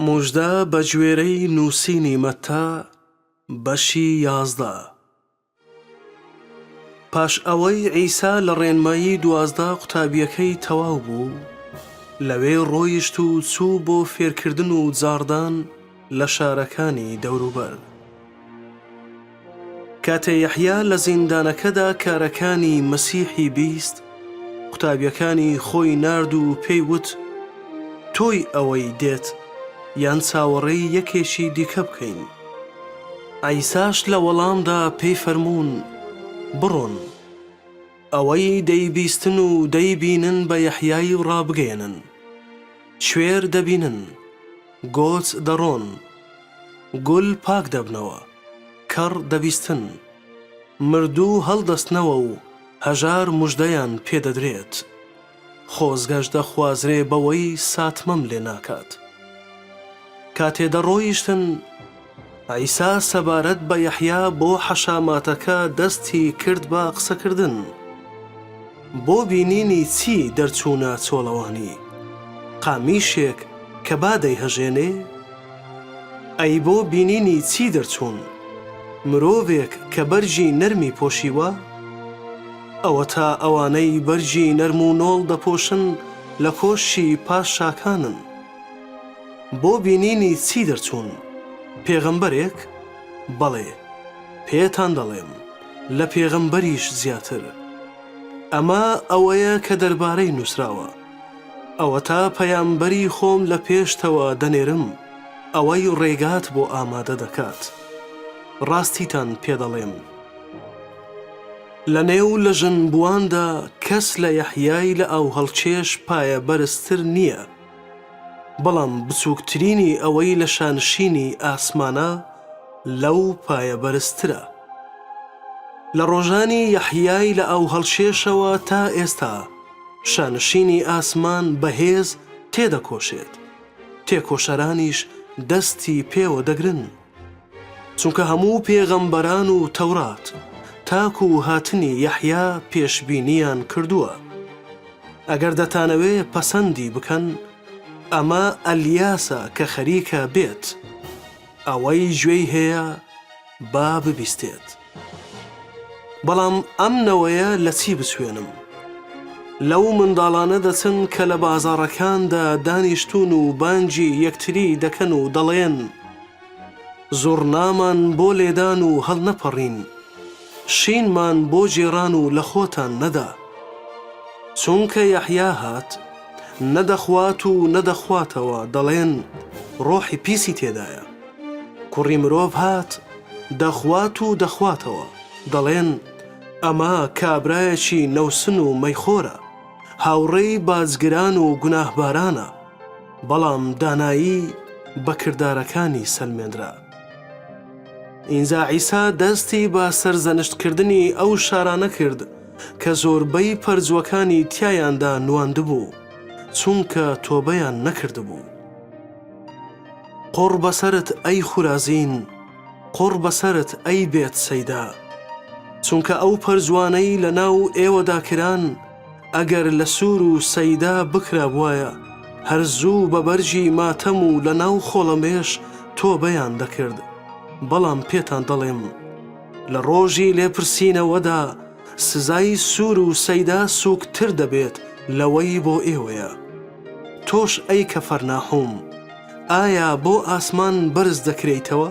موژدە بەگوێرەی نووسینی مەتا بەشی یازدە. پاش ئەوەی عیسا لە ڕێنمایی دوازدە قوتابییەکەی تەواو بوو، لەوێ ڕۆیشت و چوو بۆ فێرکردن و جاڕدان لە شارەکانی دەوروبەر. کاتێ یەحیا لە زیندانەکەدا کارەکانی مەسیحی بیست، قوتابیەکانی خۆی نارد و پێی وت، تۆی ئەوەی دێت، یان چاوەڕێی یەکێکی دیکە بکەین؟ عیساش لە وەڵامدا پێی فەرموون، بڕۆن، ئەوەی دەیبیستن و دەیبینن بە یەحیای ڕابگەیەنن، کوێر دەبینن، گۆچ دەڕۆن، گول پاک دەبنەوە. کەڕ دەبیستن، مردوو هەڵدەستنەوە و هەژار مژدەیان پێ دەدرێت. خۆزگەش دەخوازرێ بەوەی ساتمەم لێ ناکات. کاتێ دەڕۆیشتن، عیسا سەبارەت بە یەحیا بۆ حەشاماتەکە دەستی کرد بە قسەکردن. بۆ بینینی چی دەرچوونە چۆڵەوانی؟ قامیشێک کە با دەیهەژێنێ؟ ئەی بۆ بینینی چی دەرچوون؟ مرۆڤێک کە بەرگی نەرمی پۆشیوە؟ ئەوەتا ئەوانەی بەرگی نەرم و نۆڵ دەپۆشن لە کۆشکی پاشاکانن. بۆ بینینی چی دەرچوون؟ پێغەمبەرێک؟ بەڵێ، پێتان دەڵێم، لە پێغەمبەریش زیاتر. ئەمە ئەوەیە کە دەربارەی نووسراوە. ئەوەتا پەیامبەری خۆم لە پێشتەوە دەنێرم، ئەوەی ڕێگات بۆ ئامادە دەکات. ڕاستیتان پێ دەڵێم، لە نێو لە ژن بوواندا کەس لە یەحیای لە ئاوهەڵکێش پایە بەرزتر نییە، بەڵام بچووکترینی ئەوەی لە شانشینی ئاسمانە لەو پایە بەرزترە. لە ڕۆژانی یەحیای لە ئاوهەڵکێشەوە تا ئێستا، شانشینی ئاسمان بەهێز تێدەکۆشێت، تێکۆشەرانیش دەستی پێوە دەگرن. چونکە هەموو پێغەمبەران و تەورات تاکو هاتنی یەحیا پێشبینییان کردووە. ئەگەر دەتانەوێ پەسەندی بکەن، ئەمە ئەلیاسە کە خەریکە بێت. ئەوەی گوێی هەیە با ببیستێت. بەڵام ئەم نەوەیە لە چی بچوێنم؟ لەو منداڵانە دەچن کە لە بازاڕەکاندا دانیشتوون و بانگی یەکتری دەکەن و دەڵێن، زوڕنامان بۆ لێدان و هەڵنەپەڕین، شینمان بۆ گێڕان و لە خۆتان نەدا. چونکە یەحیا هات، نە دەخوات و نە دەخواتەوە، دەڵێن، ڕۆحی پیسی تێدایە. کوڕی مرۆڤ هات، دەخوات و دەخواتەوە. دەڵێن، ئەمە کابرایەکی نەوسن و مەیخۆرە، هاوڕێی باجگران و گوناهبارانە. بەڵام دانایی بە کردارەکانی سەلمێنرا. ئینجا عیسا دەستی بە سەرزەنشتکردنی ئەو شارانە کرد کە زۆربەی پەرجووەکانی تیایاندا نواندبوو، چونکە تۆبەیان نەکردبوو. قوڕ بەسەرت ئەی خورازین قوڕ بەسەرت ئەی بێت سەیدا چونکە ئەو پەرجوانەی لە ناو ئێوەدا کران ئەگەر لە سور و سەیدا بکرابوایە هەر زوو بە بەرگی ماتەم و لە ناو خۆڵەمێش تۆبەیان دەکرد بەڵام پێتان دەڵێم لە ڕۆژی لێپرسینەوەدا سزای سور و سەیدا سوک تر دەبێت لەوەی بۆ ئێوەیە تۆش ئەی کەفەرناحوم ئایا بۆ ئاسمان بەرز دەکرێیتەوە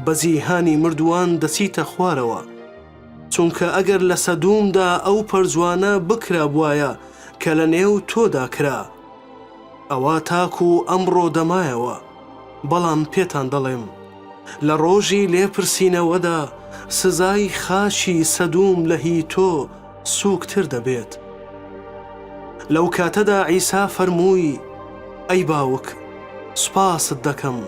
بە جیهانی مردووان دەچیتە خوارەوە چونکە ئەگەر لە سەدومدا ئەو پەرجوانە بکرابوایە کە لە نێو تۆدا کرا ئەوا تاکو ئەمڕۆ دەمایەوە بەڵام پێتان دەڵێم لە ڕۆژی لێپرسینەوەدا سزای خاچی سەدوم لە هی تۆ سووکتر دەبێت. لەو کاتەدا عیسا فەرمووی، ئەی باوک، سوپاست دەکەم،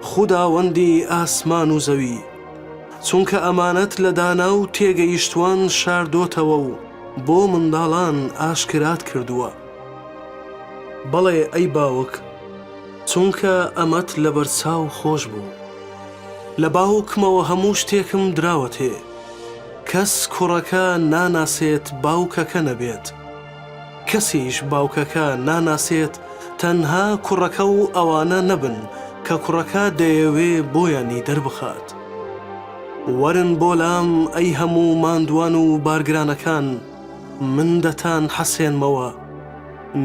خوداوەندی ئاسمان و زەوی، چونکە ئەمانەت لە دانا و تێگەیشتووان شاردۆتەوە و بۆ منداڵان ئاشکرات کردووە. بەڵێ ئەی باوک، چونکە ئەمەت لەبەرچاو خۆش بوو. لە باوکمەوە هەموو شتێکم دراوەتێ. کەس کوڕەکە ناناسێت باوکەکە نەبێت. کەسیش باوکەکە ناناسێت تەنها کوڕەکە و ئەوانە نەبن کە کوڕەکە دەیەوێ بۆیانی دەربخات. وەرن بۆ لام ئەی هەموو ماندوان و بارگرانەکان. من دەتان حەسێنمەوە،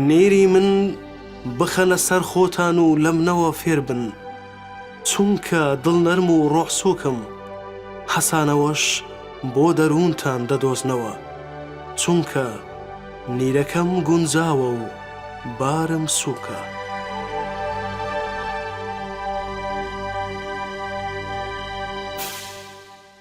نێری من بخەنە سەر خۆتان و لە منەوە فێر بن، چونکە دڵنەرم و ڕۆحسووکم، حەسانەوەش بۆ دەروونتان دەدۆزنەوە، چونکە نیرەکەم گونجاوە و بارم سووکە.